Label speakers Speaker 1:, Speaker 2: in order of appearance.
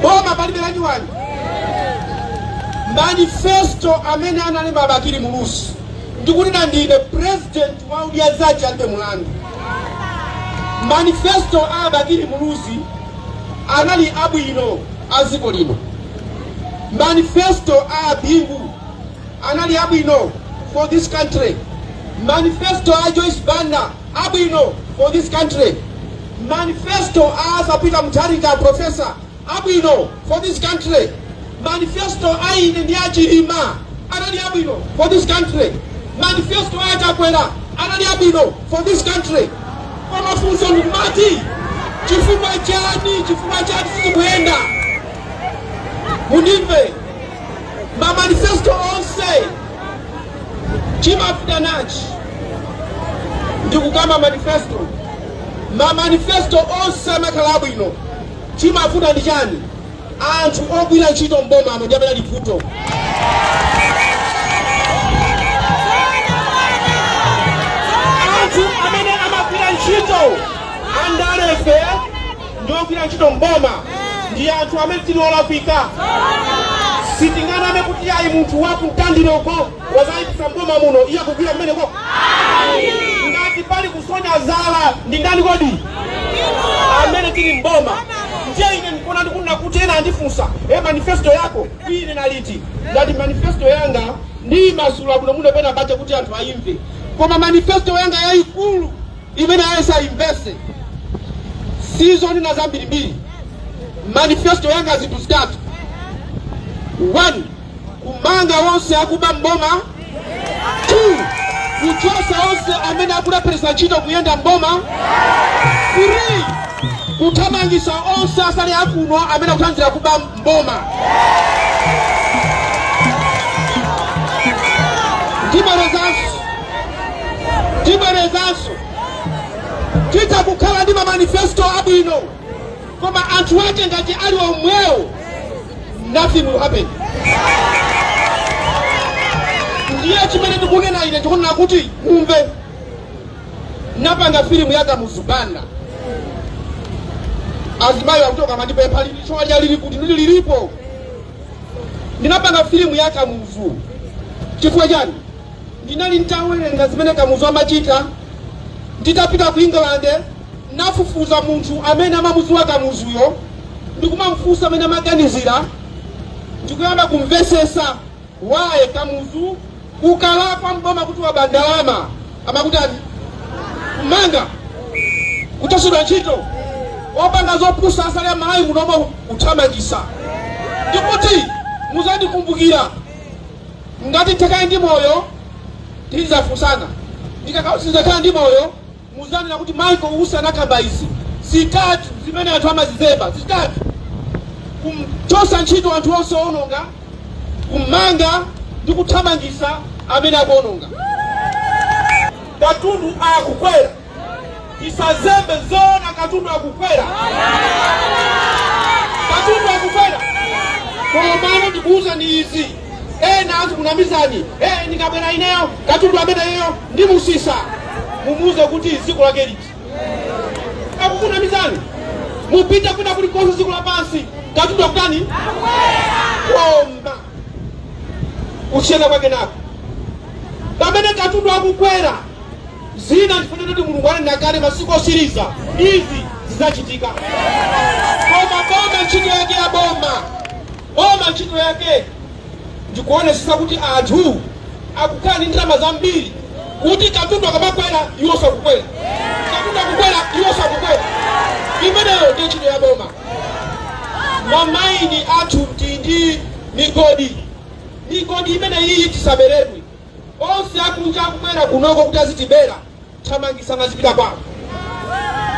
Speaker 1: boma palibe lanyuwani manifesto amene analemba bakili muluzi ndikuti ndine president wa odya zake alibe mulandu manifesto a bakili muluzi anali abwino a dziko lino manifesto a bingu anali abwino for this country manifesto a joyce banda abwino for this country manifesto a arthur peter mutharika professor abwino for this country manifesto a ine ndi achilima anali abwino for this country manifesto a chakwera anali abwino for this country koma funso nkumati chifukwa chani chifukwa chani sizikuyenda mundimve mamanifesto onse chimavuta nchani ndikukamba manifesto mamanifesto onse amakhala abwino chimavuta ndi chani anthu ogwira ntchito mbomamo ndi amene ali vuto anthu amene amagwira ntchito andalefe ndi ogwira ntchito m'boma ndi anthu amene tili olakwika sitinganame kuti ayi munthu wakumtandire uko wazayipisa mboma muno iye akugwira kumeneko ngati pali kusonya zala ndi ndani kodi amene tili mboma ndiye ine ndikuona ndikunena kuti ena andifunsa e manifesto yako ine naliti ngati manifesto yanga ndiyimasula bwinobwino penapake kuti anthu ayimve koma manifesto yanga yayikulu Imene aliyense ayimvetse si zonena zambirimbiri. Manifesto yanga zinthu zitatu, 1 kumanga onse akuba m'boma, 2 kuchotsa onse amene akulepheretsa ntchito kuyenda m'boma, 3 kuthamangitsa onse asali akuno amene akuthandizira kuba boma tibwerezanso titha kukhala ndi mamanifesto abwino koma anthu ake ngati ali omwewo nothing will happen ndiye chimene ndikunena ine ndikunena kuti mumve napanga filimu ya kamuzu banda azimayi akutoka amandipempha lili chuma lija lili kuti lili lilipo ndinapanga filimu ya kamuzu chifukwa chani ndinali ntawerenga zimene kamuzu amachita nditapita ku england nafufuza munthu amene amamuziwa kamuzuyo ndikumamfunsa mmene amaganizira ndikuyamba kumvesesa Wa Kamuzu ukalakwa mboma kuti waba ndalama amakutani kumangidwa kuchotsedwa ntchito wapanga zopusa usale Malawi munomo kuthamangitsa ndikuti muzandikumbukira ngati takhale ndi moyo tizafunsana ndikadzakhala ndi moyo Muzanena kuti Michael Usi anakamba izi zitatu zimene anthu amazizemba zitatu, kumchotsa ntchito anthu onse owononga, kummanga ndi kuthamangitsa amene akuononga. Katundu akukwera. Tisazembe, zoona katundu akukwera? Katundu akukwera? Komano ndikuuzeni izi. ena azikunamizani eh, ndikabwera ineyo katundu ameneyo ndimutsitsa mumuuze kuti dziko lake liti akukunamizani mupite kwina kulikonse dziko lapansi katundu akutani koma kusiyana kwake n'koti pamene katundu akukwera zina ndi zifuniro kuti mulungu ananena kale masiku otsiriza izi zidzachitika koma boma ntchito yake ya boma Boma ntchito yake ndi kuonetsetsa kuti anthu akukhala ndi ndalama zambiri kuti katundu akamakwera iwonso akukwera, katundu akukwera iwonso akukwera. Imeneyo ndiye ntchito ya boma. Mamaini athu tili ndi migodi, migodi imeneyiyi tisaberedwe. Onse akunja akubwera kunoko kuti azitibera, thamangitsani azipita kwawo.